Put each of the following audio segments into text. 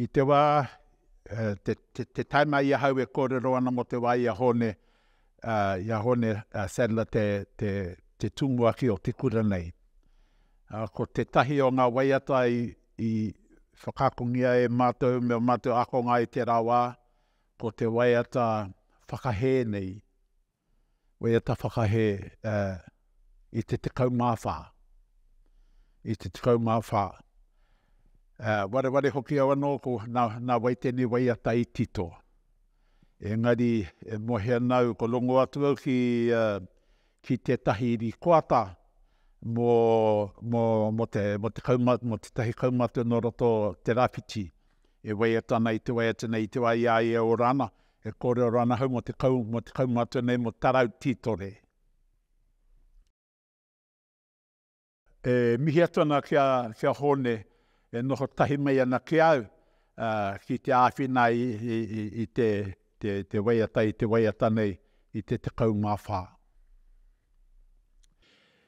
I te wā, te taima i ahau e kōrero ana mō te wā i a Hōne, i a Hōne Sadler te tumuaki o te kura nei. Ko tētahi o ngā waiata i whakaakongia e mātou me ō mātou ākonga i tērā wā, ko te waiata whakahē nei Waiata whakahē i te 14. I te 14. Wareware hoki au anō ko nā Waitene waiata i tito. Engari e mohe ana au ko rongo atu au ki tētahi rikoata mō tētahi kaumātua nō roto te rāwhiti e waiata ana i te waiata nei i te wā i a ia ora ana E kōrero ana ahau mō te kau, mō te kaumātua nei, mō Tarau Tītore. E mihi atu ana ki a, ki a Hōne e noho tahi mai ana ki au, ā, ki te āwhina i, i, i, i te, te, te waiata, i te waiata nei i te 14.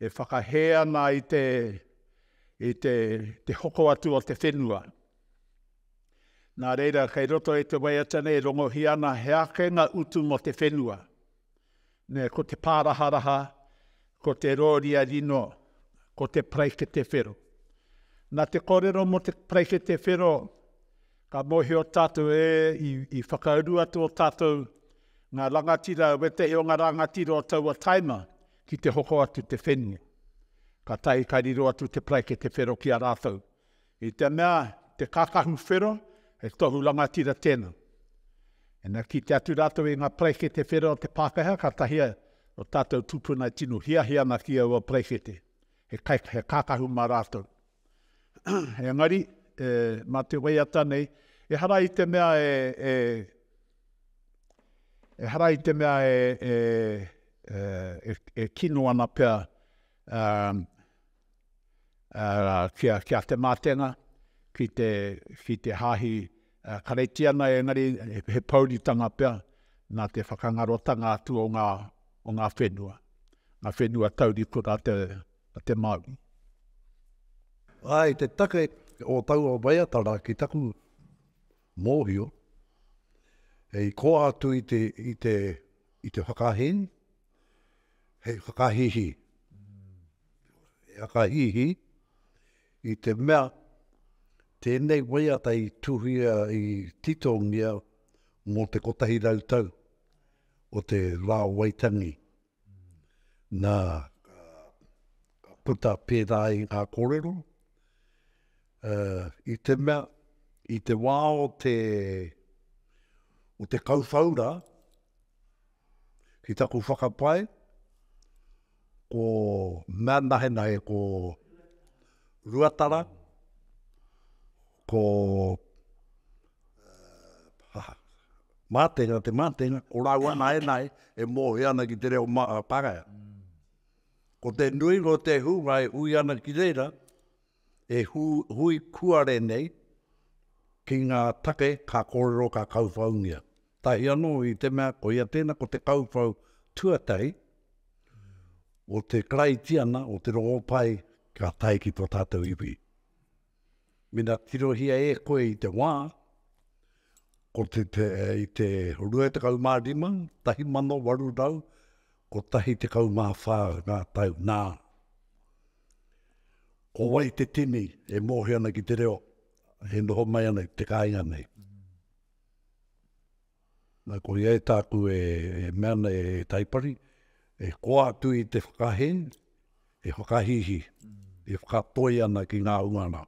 e whakahē ana i te, i te, te hoko atu o te whenua. Nā reira, kei roto i te waiata nei e rongohia ana he ake ngā utu mō te whenua. Nē, ko te pāraharaha, ko te rōria rino, ko te paraikete whero. Nā te kōrero mō te paraikete whero, ka mōhio tātou e, i, i whakaurua tō tātou ngā rangatira, wētehi o ngā rangatira o taua taima, Ki te hoko atu te whenua, katahi ka riro atu te parekete whero ki a ratou. I te mea te kakahu whero he tohu rangatira tena. Ina kite atu ratou i nga parekete whero o te Pakeha katahi o tatou tupuna e tino hiahia ana ki aua parekete, he kakahu ma ratou. Engari, e, mā te waiata nei, ehara i te mea e, e, ehara i te mea e, e, e, e, e kino ana pea um, uh, kia, kia te mātenga, ki te, ki te hāhi uh, karetiana, engari he, he pauritanga pea nā te whakangarotanga atu o ngā, o ngā whenua. Ngā whenua taurikura te, a te Māori. Ā, i te take o taua waiatara ki taku mōhio, hei koa atu i te, i te, i te whakahī, hei whakahīhī. E whakahīhī, i te mea, tēnei waiata i tuhia, i titongia mō te kotahi rau tau o te Rā o Waitangi. Nā, ka puta pērā i ngā kōrero, i te mea, i te wā o te, o te kauwhau rā, ki taku whakapae, ko mea nahenahe ko Ruatara, ko. Ā, mātenga te mātenga, ko rāua naenae e mōhio ana ki te reo Mātārae. Ko te nuinga o te hunga e hui ana ki reira, e hui kuare nei ki ngā take ka kōrero, ka kauwhaungia. Tahi anō i te mea, koia tēnā, ko te kauwhau tuatahi o te Karaitiana, o te rongopai kia tae ki tō tātou iwi. Mena tirohia e koe i te wa, ko te te, i te 25, 1800, ko tahi te kau ma wha nga tau, na, ko wai te tini e mohi ana ki te reo, e noho mai ana ki te kainga nei. Na ko ia e taku e mea ana e Taipari, e koa atu i te whakahe, e whakahihi, e whakatoi ana ki nga ungana.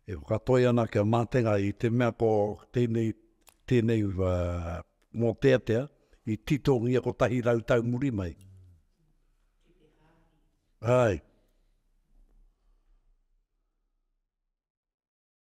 E whakatoi ana kia matenga i te mea ko tenei, tenei moteatea i titongia kotahi rau tau muri mai. Ae.